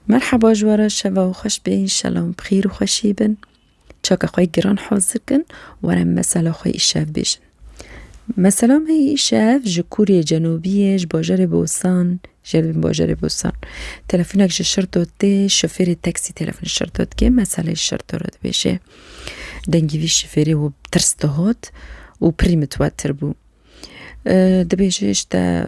Merhaba ji we re şeva û xweş bê înşela em bi xîr û xweşî bin. Çaka xwe giran hazir kin were mesela xwe îşev bêjin. Mesela me yê îşev ji Kuriyê Cenûbiyê ji bajarê Bosan jê bin bajarê Bosan. Telefonek ji Şirdo tê şofêrê teksî telefon ji Şirdo dike meseleyê Şirdo re dibêje. Dengê vî şofêrê û tirs dihat û pirî mitwetir bû. Dibêje îşte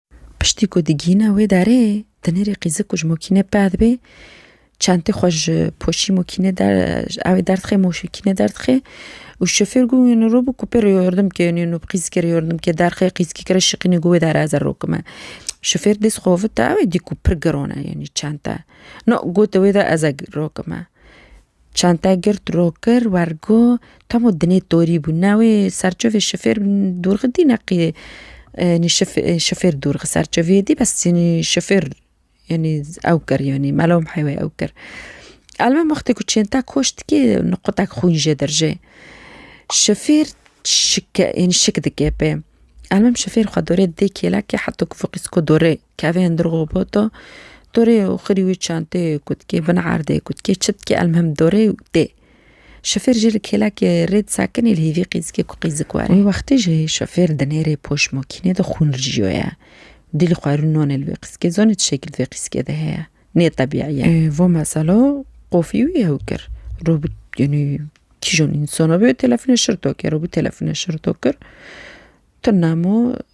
Piştî ku digihîne wê derê, di nêrê qîzik û ji mokînê peh dibê, çentê xwe ji poşî mokînê ew derdixê mokînê derdixê û şofêr got wê niro bû ku pê re yardim bike wê nîno bi qîzikê re yardim bike derxê qîzikê re şiqînê got wê dere ez ê rokime. Şofêr dest xwe vite ew ê dît ku pir giran e yanî çente. No got wê de ez ê rokime. Çente girt ro kir wer got, Tamo dinê torî bû ne wê serçovê şifêr dûrxi dî ne qî yanî şifêr dûrxi serçoviyê dî bes yanî şifêr yanî ew kir yanî melo mihê wê ew kir. Elbet wextê ku çente koş dikê nuqudek xwîn jê dirjê. Şifêr şike yanî şik dike pê. Elbet şifêr xwe dorê didê kêlekê heto ku fiqîsko dorê. Kevê hundir robot o dorê û xirî wî çenteyê ku dikê bin erdê ku dikê çi dikê elmuhim dorê û tê. Şofêr jî li kêlekê rê disekinê li hêvî qîzikê ku qîzik were. Wê wextê jî şofêr di nêrê poş mokînê de xûn rijiyo ye. Dîlî xwe rû nonê li vê qîzikê zonê ti şekil di vê qîzikê de heye. Nê tebîî ye. Vo meselo qofî wî ew kir. Robot yanî kîjan însan a bê wê telefonê şirto kero bû telefonê şirto kir. Tu nemo.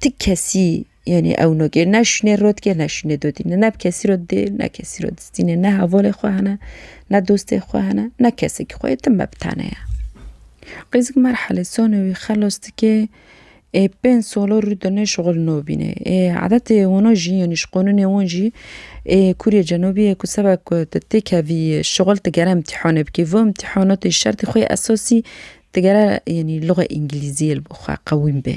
Ti kesî yanî ew nagê ne şûnê rot ke ne şûnê dotî ne ne bi kesî re didê ne kesî re distînê ne hevalê xwe hene ne dostê xwe hene ne kesekî xwe yê tim be bi tane ye. Qêzik merhele sona wî xelas dike ê pênc sala rû de nê şixul nabîne ê edetê wan jî yanî ji qanûnê wan jî ê kûrê cenabî ye ku seba ku tu têkevî şixul tu gere îmtîhanê bikî vê îmtîhanatê şertê xwe yê esasî tu gere yanî luxe îngîlîziyê li bo xwe qewîm bê.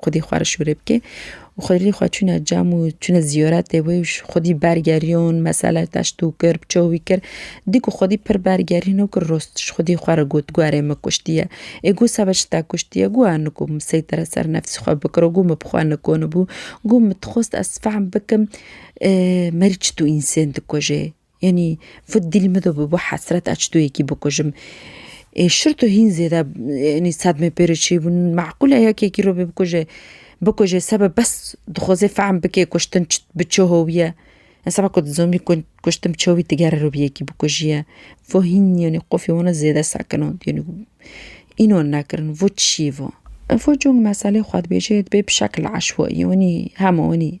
Xwedî xwe re şûrê bike û xwedî xwe çûne cem û çûne zîyoretê wê û xwedî bergeriyon, mesele teşt û kir, bi çaw wî kir. Dî ku xwedî pir bergerîn û kir rost ji xwedî xwe re got, Guerê min kuştiye. Ê got seba çi te kuştiye? Got ez nikom seytere ser nefsî xwe bikiro, got min bi xwe nikonibû. Got min dixwest ez fehm bikim merî çitû însên dikujê. Yanî fut dîl min de bi hesret a çitoyekî bikujim. Ê şir tu hîn zêde yanî sedmê pê re çêbûn. Meqûl e yekekî re bê bikuje. Bikuje sebe bes dixwaze fehm bike kuştin bi çi howî ye. Em seba ku dizanî kuştin bi çi howî tigere re bê yekî bikujiye. Vo hîn yanî qufê wan zêde sekin û yanî înan nekirin. Vo çi ye vo? Vo cûng meselê xwe dibêje bê bi şekil eşwaî yanî hema yanî.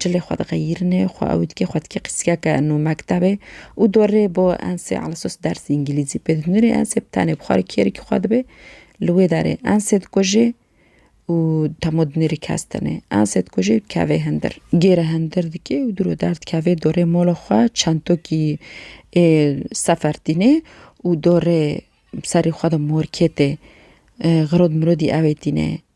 Cilê xwe diqeyîrinê, xwe ew dikê xwe dikê qîskeke nû mektebê û dorê bo ensê Alsos dersê îngîlîzî pê didin. Nûrê ensê bi tenê bi xwe re kêrikî xwe dibê. Li wê derê ensê dikujê û demo di nêrî kes tenê. Ensê dikujê û dikevê hindir. Gêre hindir dikê û diro derdikevê dorê mola xwe çentokî ê sefer tînê û dorê serê xwe de morkê tê. Xirod mirodî ewê tînê.